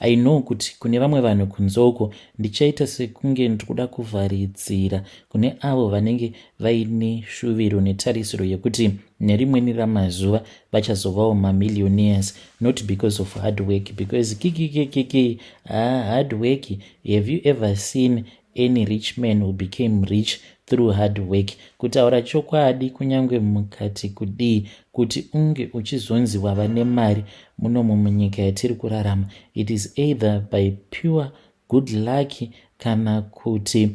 I know kuti kune vamwe vanhu kunze uko ndichaita sekunge ndiri kuda kuvharidzira kune avo vanenge vaine shuviro netarisiro yekuti nerimweni ramazuva vachazovawo mamillionaires not because of hard work because kikikikiki haa hard work have you ever seen Any rich man who became rich through hard work. Kutaura chokwadi kunyange mukati kudii kuti unge uchizonzi wava nemari muno mumunyika yatiri kurarama it is either by pure good luck kana kuti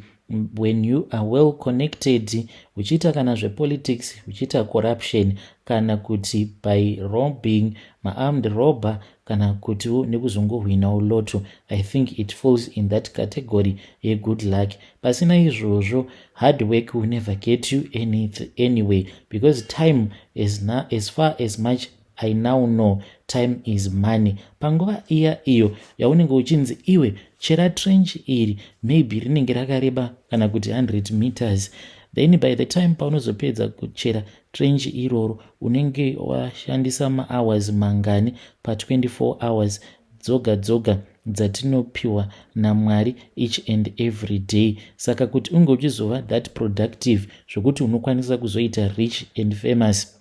when you are well connected uchiita kana zvepolitics uchiita corruption kana kuti by robbing maarmed robber kana kutiwo nekuzongohwinawo loto i think it falls in that category yegood luck pasina izvozvo hard work will never get you anything anyway because time as, na, as far as much i now know time is money panguva iya iyo yaunenge uchinzi iwe chera trench iri maybe rinenge rakareba kana kuti 100 meters then by the time paunozopedza kuchera trench iroro unenge washandisa mahours mangani pa 24 hours dzoga dzoga dzatinopiwa namwari each and every day saka kuti unge uchizova that productive zvokuti unokwanisa kuzoita rich and famous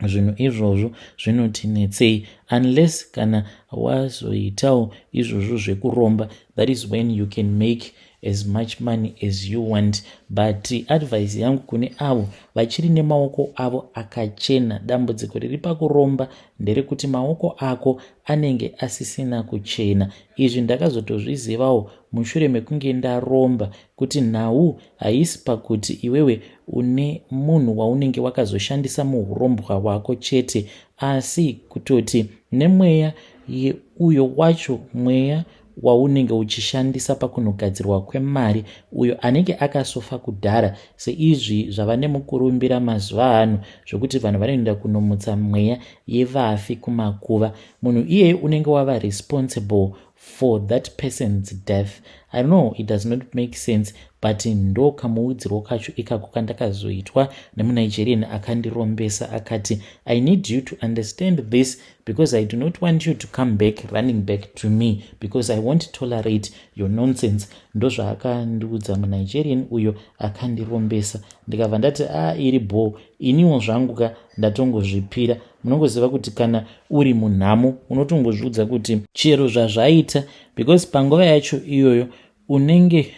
zvinhu izvozvo zvinotinetsei unless kana wazoitawo izvozvo zvekuromba that is when you can make as much money as you want but advice yangu kune avo vachiri nemaoko avo akachena dambudziko riri pakuromba nderekuti maoko ako anenge asisina kuchena izvi ndakazotozvizivawo mushure mekunge ndaromba kuti nhau haisi pakuti iwewe une munhu waunenge wakazoshandisa muurombwa hwako chete asi kutoti nemweya yeuyo wacho mweya waunenge uchishandisa pakunogadzirwa kwemari uyo anenge akasofa kudhara seizvi zvava nemukurumbira mazuva ano zvokuti vanhu vanoenda kunomutsa mweya yevafi kumakuva munhu iyeye unenge wava responsible for that person's death i know it does not make sense but ndo kamuudzirwo kacho ikako kandakazoitwa nemunigerian akandirombesa akati i need you to understand this because i do not want you to come back running back to me because i won't tolerate your nonsense ndozvaakandiudza munigerian uyo akandirombesa ndikabva ndati a ah, iri bhoo iniwo zvangu ka ndatongozvipira munongoziva kuti kana uri munhamo unotongozviudza kuti chero zvazvaita because panguva yacho iyoyo unenge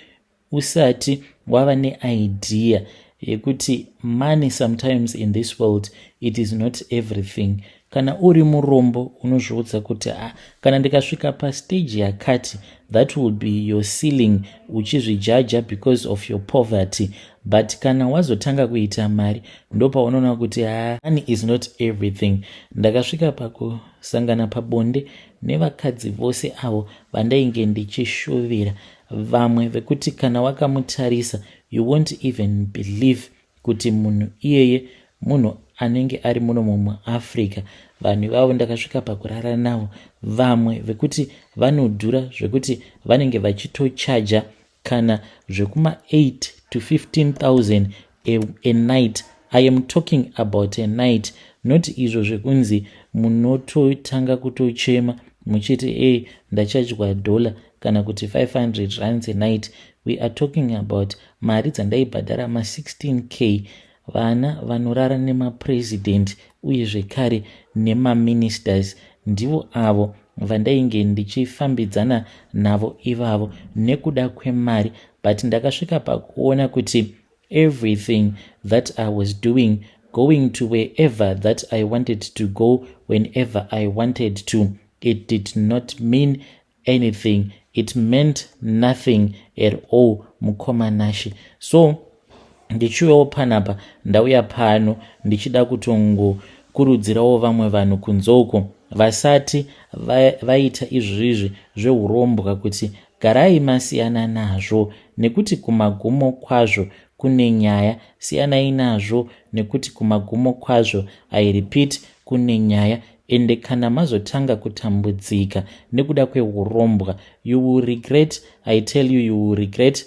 usati wava neidea yekuti money sometimes in this world it is not everything kana uri murombo unozviudza kuti a ah, kana ndikasvika pastage yakati that will be your sealing uchizvijaja because of your poverty but kana wazotanga kuita mari ndopaunoona kuti ah, money is not everything ndakasvika pakusangana pabonde nevakadzi vose avo vandainge ndichishuvira vamwe vekuti kana wakamutarisa you won't even believe kuti munhu iyeye munhu anenge ari muno mumwe africa vanhu ivavo ndakasvika pakurara navo vamwe vekuti vanodhura zvekuti vanenge vachitochaja kana zvekuma 8 to 15 000 a, a night i am talking about a night not izvo zvekunzi munototanga kutochema muchiti e hey, ndachadya dollar kana kuti 500 rands a night we are talking about mari dzandaibhadhara ma16 k vana vanorara nemapresident uye zvekare nemaministers ndivo avo vandainge ndichifambidzana navo ivavo nekuda kwemari but ndakasvika pakuona kuti everything that i was doing going to wherever that i wanted to go whenever i wanted to it did not mean anything it meant nothing at all mukoma nashe so ndichiuyawo panapa ndauya pano ndichida kutongokurudzirawo vamwe vanhu kunze uko vasati vaita izvizvi zveurombwa kuti garai masiyana nazvo nekuti kumagumo kwazvo kune nyaya siyanai nazvo nekuti kumagumo kwazvo i repeat kune nyaya ende kana mazotanga kutambudzika nekuda kweurombwa you will regret i tell you you will regret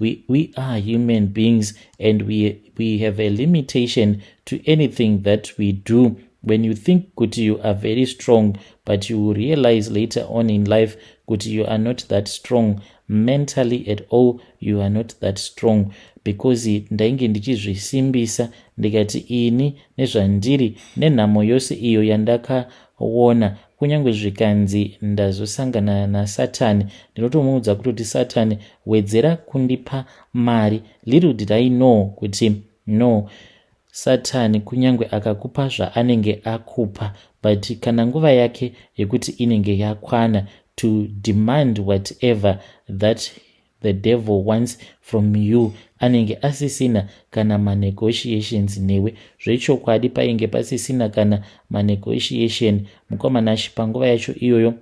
We, we are human beings and we, we have a limitation to anything that we do when you think kuti you are very strong but you will realize later on in life kuti you are not that strong mentally at all you are not that strong because ndainge ndichizvisimbisa ndikati ini nezvandiri nenhamo yose iyo yandakaona Kunyange zvikanzi ndazosangana naSatani, ndinotomuudza kutoti Satani wedzera kundipa mari. Little did I know kuti no Satani kunyange akakupa zvaanenge akupa but kana nguva yake yekuti inenge yakwana to demand whatever that the devil wants from you anenge asisina kana manegotiations newe zvechokwadi painge pasisina kana manegotiation mukomanashi panguva yacho iyoyo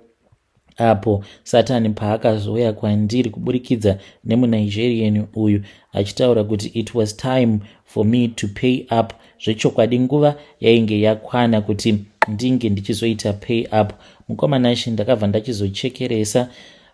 apo satani paakazouya kwandiri kuburikidza nemunigerian uyu achitaura kuti it was time for me to pay up zvechokwadi nguva yainge yakwana kuti ndinge ndichizoita pay up mukomanashi ndakabva ndachizochekeresa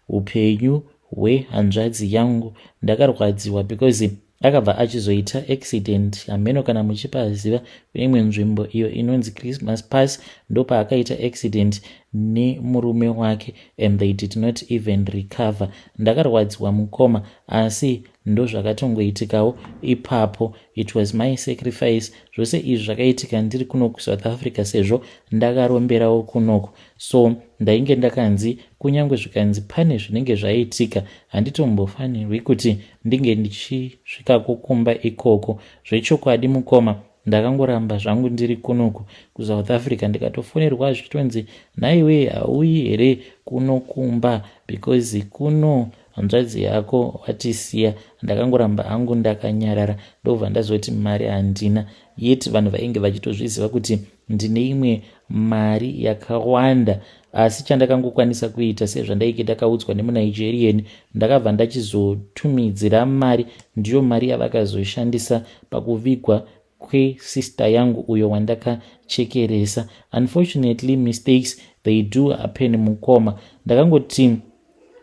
upenyu hwe hanzvadzi yangu ndakarwadziwa because akabva achizoita accident hameno kana muchipaziva kune imwe nzvimbo iyo inonzi christmas pass ndopaakaita accident nemurume wake and they did not even recover ndakarwadziwa mukoma asi ndozvakatongoitikawo ipapo it was my sacrifice zvose izvi zvakaitika ndiri kunoku south africa sezvo ndakaromberawo kunoku so ndainge ndakanzi kunyange zvikanzi pane zvinenge zvaiitika handitombofanirwi kuti ndinge ndichisvika kukumba ikoko zvechokwadi mukoma ndakangoramba zvangu ndiri kunoku kusouth africa ndikatofonerwa zvichitonzi nhaiwe hauyi here kunokumba because kuno hanzvadzi yako watisiya ndakangoramba hangu ndakanyarara ndobva ndazoti mari handina yet vanhu vainge vachitozviziva kuti Ndine imwe mari yakawanda asi chandakangokwanisa kuita sezvandaike ndakaudzwa nemunigerian ndakabva ndachizotumidzira mari ndiyo mari yavakazoshandisa pakuvigwa kwesister yangu uyo wandakachekeresa unfortunately mistakes they do happen mukoma ndakangoti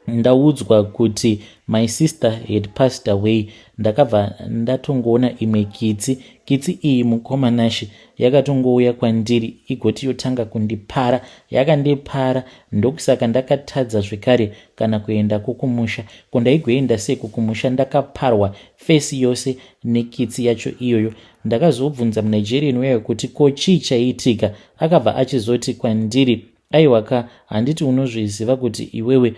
ndaudzwa kuti my sister had passed away ndakabva ndatongoona imwe kitsi kitsi iyi mukoma nashe yakatongouya kwandiri igoti yotanga kundipara yakandipara ndokusaka ndakatadza zvekare kana kuenda kukumusha ko ndaigoenda sei kukumusha ndakaparwa fesi yose nekitsi yacho iyoyo ndakazobvunza munigerian weyo kuti ko chii chaiitika akabva achizoti kwandiri Aiwa ka, handiti unozviziva kuti iwewe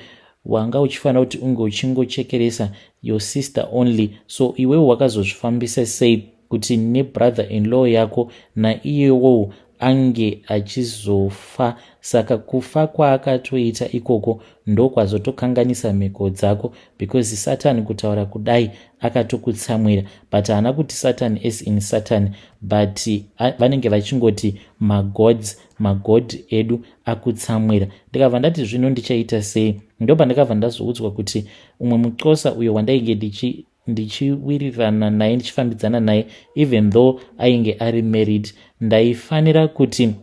wanga uchifanira kuti unge uchingochekeresa your sister only so iwewe wakazozvifambisa sei kuti nebrother in law yako naiyewowo ange achizofa saka kufa kwaakatoita ikoko ndokwazotokanganisa mhiko dzako because satani kutaura kudai akatokutsamwira but haana kuti satani as in satani but vanenge vachingoti magods magod edu akutsamwira ndikabva ndati zvino ndichaita sei ndo pandakabva ndazoudzwa kuti umwe muxosa uyo wandainge ndichiwirirana naye ndichifambidzana naye even though ainge ari married ndaifanira kuti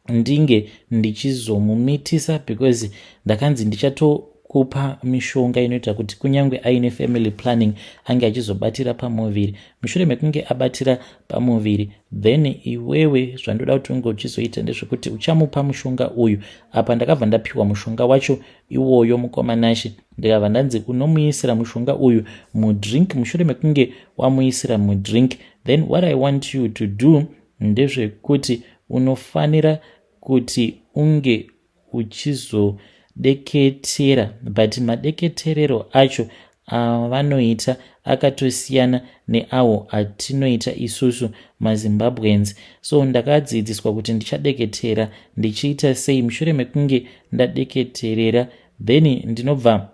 ndinge ndichizomumitisa because ndakanzi ndichato kupa mishonga inoita kuti kunyange aine family planning ange achizobatira pamuviri mushure mekunge abatira pamuviri then iwewe zvandoda kuti unge uchizoita ndezvekuti uchamupa mushonga uyu apa ndakabva ndapiwa mushonga wacho iwoyo mukoma nashe ndikabva ndanzi unomuisira mushonga uyu mudrink mushure mekunge wamuisira mudrink then what i want you to do ndezvekuti unofanira kuti unge uchizodeketera but madeketerero acho avanoita akatosiyana neawo atinoita isusu mazimbabweans so ndakadzidziswa kuti ndichadeketera ndichiita sei mushure mekunge ndadeketerera then ndinobva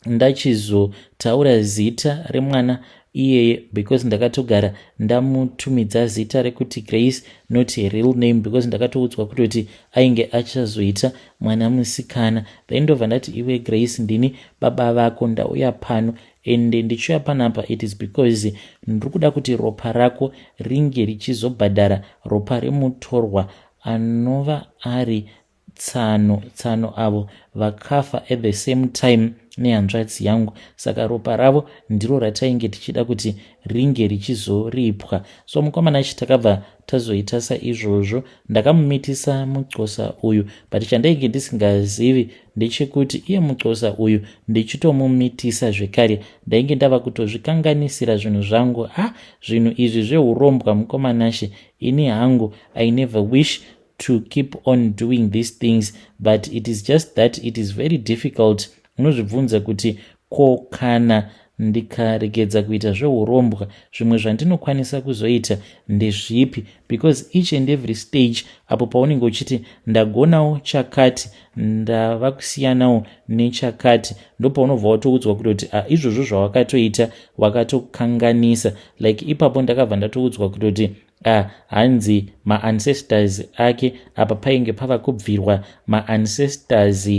ndachizotaura zita remwana iyeye because ndakatogara ndamutumidza zita rekuti grace not her real name because ndakatoudzwa kutoti ainge achazoita mwana musikana then ndobva ndati iwe grace ndini baba vako ndauya pano and ndichiuya panapa it is because ndiri kuda kuti ropa rako ringe richizobhadhara ropa remutorwa anova ari tsano tsano avo vakafa at the same time nehanzvadzi yangu saka ropa ravo ndiro ratainge tichida kuti ringe richizoripwa so mukomana chi takabva tazoita saizvozvo ndakamumitisa mucosa uyu but chandainge ndisingazivi ndechekuti iye mucosa uyu ndichitomumitisa zvekare ndainge ndava kutozvikanganisira zvinhu zvangu ha ah, zvinhu izvi zveurombwa mukomanashi ini hangu i never wish to keep on doing these things but it is just that it is very difficult unozvibvunza kuti ko kana ndikaregedza kuita zveurombwa zvimwe zvandinokwanisa kuzoita ndezvipi because each and every stage apo paunenge uchiti ndagonawo chakati ndava kusiyanawo nechakati ndopaunobva watoudzwa kutoti a ah, izvozvo zvawakatoita wakatokanganisa like ipapo ndakabva ndatoudzwa kutoti Ah, hanzi maancestors ake apa painge pava kubvirwa maancestors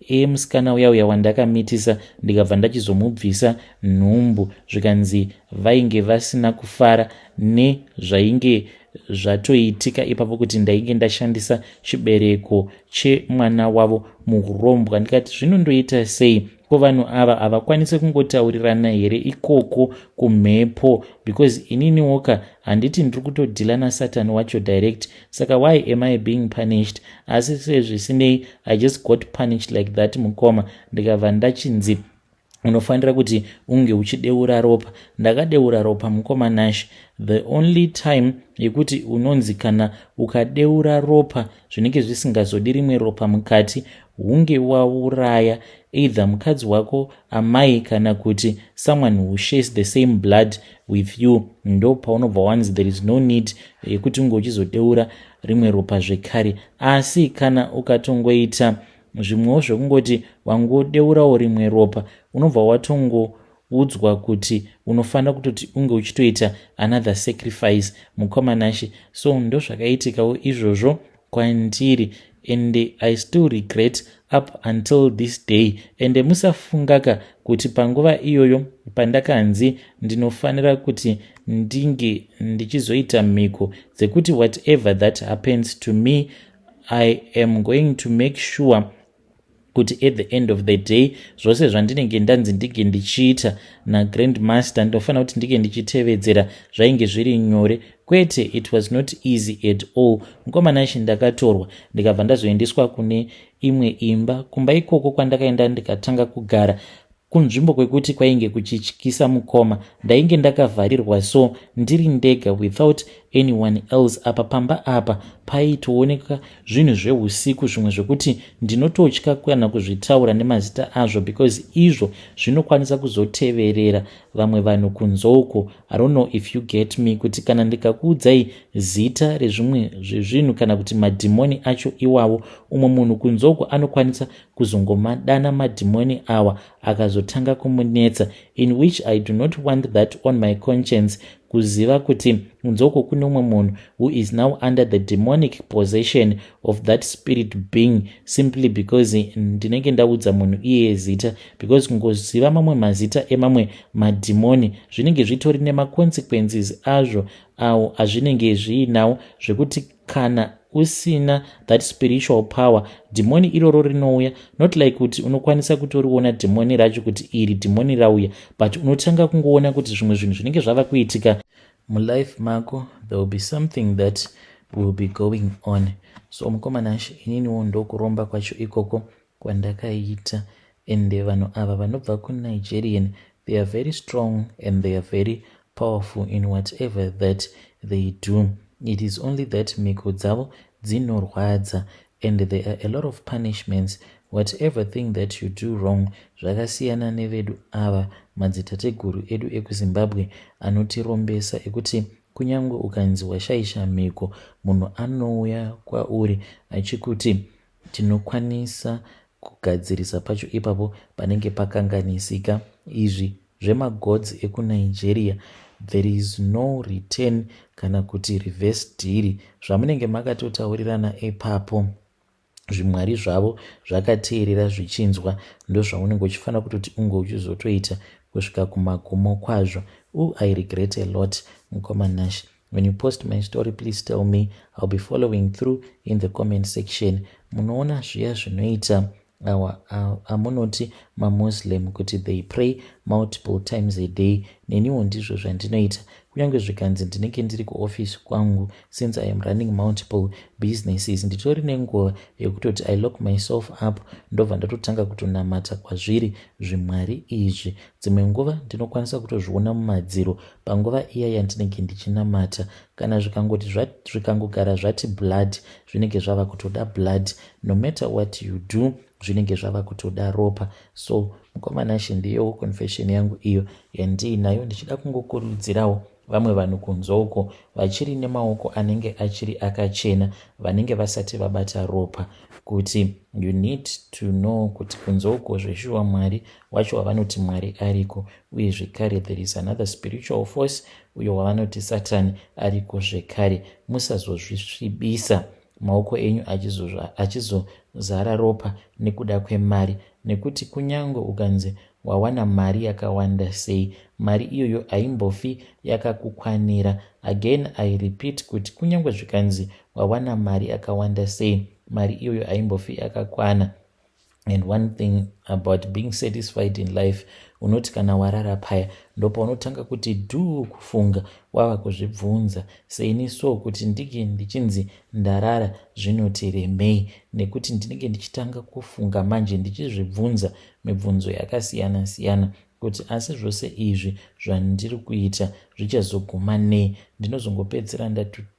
emusikana uya uya wandakamitisa ndikabva ndachizomubvisa nhumbu zvikanzi vainge vasina kufara nezvainge zvatoitika ipapo kuti ndainge ndashandisa chibereko chemwana wavo muhurombwa ndikati zvinondoita sei ko vanhu ava havakwanise kungotaurirana here ikoko kumhepo because inini woka handiti ndiri kutodhila nasatani wacho direct saka why am i being punished asi sezvisinei i just got punished like that mukoma ndikabva ndachinzi unofanira kuti unge uchideura ropa ndakadeura ropa mukoma nash the only time yekuti unonzi kana ukadeura ropa zvinenge zvisingazodi rimwe ropa mukati hunge wauraya either mukadzi wako amai kana kuti someone who shares the same blood with you ndo paunobva wanzi there is no need yekuti unge uchizodeura rimwe ropa zvekare asi kana ukatongoita zvimwewo zvekungoti wangodeurawo rimwe ropa unobva watongo Udzwa kuti unofanira kutoti unge uchitoita another sacrifice mukoma Nashe so ndozvakaitikawo izvozvo kwandiri ende I still regret up until this day ende musafungaka kuti panguva iyoyo pandakanzi ndinofanira kuti ndinge ndichizoita mhiko dzekuti whatever that happens to me I am going to make sure kuti at the end of the day zvose zvandinenge ndanzi ndinge ndichiita nagrand master ndinofanira kuti ndinge ndichitevedzera zvainge zviri nyore kwete it was not easy at all mukomanashe ndakatorwa ndikabva ndazoendeswa kune imwe imba kumba ikoko kwandakaenda ndikatanga kugara kunzvimbo kwekuti kwainge kuchityisa mukoma ndainge ndakavharirwa so ndiri ndega without anyone else apa pamba apa paitooneka zvinhu zveusiku zvimwe zvekuti ndinototya kana kuzvitaura nemazita azvo because izvo zvinokwanisa kuzoteverera vamwe vanhu kunzouko i don't know if you get me kuti kana ndikakuudzai zita rezvimwe zvezvinhu kana kuti madhimoni acho iwawo umwe munhu kunzouko anokwanisa kuzongomadana madhimoni awa akazotanga kumunetsa in which i do not want that on my conscience kuziva kuti nzoko kune umwe munhu who is now under the demonic possession of that spirit being simply because ndinenge ndaudza munhu iyeye zita because kungoziva mamwe mazita emamwe madhimoni zvinenge zvitori nemaconsequences azvo awo azvinenge zviinawo zvekuti kana usina that spiritual power dhimoni iroro rinouya not like kuti unokwanisa kutoriona dhimoni racho kuti iri dhimoni rauya but unotanga kungoona kuti zvimwe zvinhu zvinenge zvava kuitika mulife mako there will be something that will be going on so mukomana she ininiwo ndokuromba kwacho ikoko kwandakaita ende vanhu ava vanobva ku Nigerian they are very strong and they are very powerful in whatever that they do it is only that mhiko dzavo dzinorwadza and there are a lot of punishments whatever thing that you do wrong zvakasiyana nevedu ava madzitateguru edu ekuzimbabwe anotirombesa ekuti kunyange ukanzi washaisha mhiko munhu anouya kwauri achikuti Tinokwanisa kugadzirisa pacho ipapo panenge pakanganisika. Izvi zvemagods ekuNigeria there is no return kana kuti reverse dhiri zvamunenge makatotaurirana ipapo zvimwari zvavo zvakateerera zvichinzwa ndozvaunenge uchifanira kutoti unge uchizotoita kusvika kumagumo kwazvo u i regret a lot mukoma nash When you post my story please tell me I'll be following through in the comment section. Munoona zviya zvinoita awa amunoti mamuslim kuti they pray multiple times a day neniwo ndizvo zvandinoita kunyange zvikanzi ndinenge ndiri kuoffice kwangu since i am running multiple businesses nditori nenguva yekutoti i lock myself up ndobva ndatotanga kutonamata kwazviri zvimwari izvi dzimwe nguva ndinokwanisa kutozviona mumadziro panguva iya yandinenge ndichinamata kana zvikangoti zvikangogara zvati blood zvinenge zvava kutoda blood no matter what you do zvinenge zvava kutoda ropa so mukomanashe ndiyowo confession yangu iyo yandiinayo ndichida kungokurudzirawo vamwe vanhu kunze uko vachiri nemaoko anenge achiri akachena vanenge vasati vabata ropa kuti you need to know kuti kunze uko zveshuwa mwari wacho wavanoti mwari ariko uye zvekare there is another spiritual force uyo wavanoti satani ariko zvekare musazozvisvibisa maoko enyu achizozara ropa nekuda kwemari nekuti kunyange ukanzi wawana mari yakawanda sei mari iyoyo haimbofi yakakukwanira again i repeat kuti kunyange zvikanzi wawana mari yakawanda sei mari iyoyo haimbofi yakakwana and one thing about being satisfied in life unoti kana warara paya ndopaunotanga kuti duu kufunga wava kuzvibvunza seini so kuti ndinge ndichinzi ndarara zvinoti remei nekuti ndinenge ndichitanga kufunga manje ndichizvibvunza mibvunzo yakasiyana siyana kuti asi zvose izvi zvandiri kuita zvichazoguma nei ndinozongopedzisira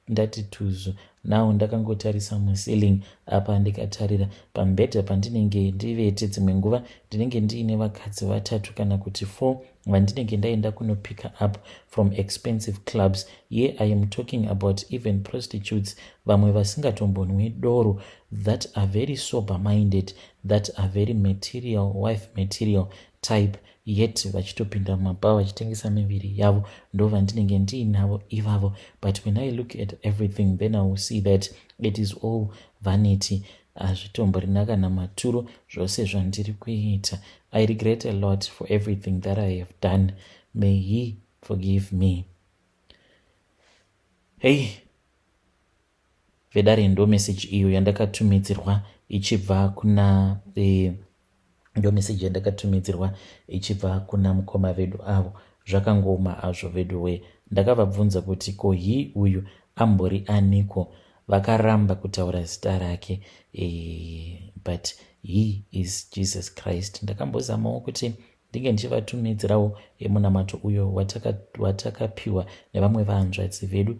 ndati tuzu now ndakangotarisa muceiling apa ndikatarira pambhedha pandinenge ndivete dzimwe nguva ndinenge ndiine vakadzi vatatu kana kuti four vandinenge ndaenda kunopicker up from expensive clubs ye i am talking about even prostitutes vamwe vasingatombonwi doro that are very sober minded that are very material wife material type yet vachitopinda mumabhawa vachitengesa miviri yavo ndovandinenge ndiinavo ivavo but when i look at everything then i will see that it is all vanity hazvitomborina kana maturo zvose zvandiri kuita i regret a lot for everything that i have done may he forgive me hei vedare ndo message iyo yandakatumidzirwa ichibva kuna e, ndo message yandakatumidzirwa ichibva kuna mukoma vedu avo zvakangooma azvo vedu wee ndakavabvunza kuti ko hi uyu ambori aniko vakaramba kutaura zita rake e, but he is jesus christ ndakambozamawo kuti ndinge ndichivatumidzirawo emunamato uyo watakapiwa wataka nevamwe vahanzvadzi vedu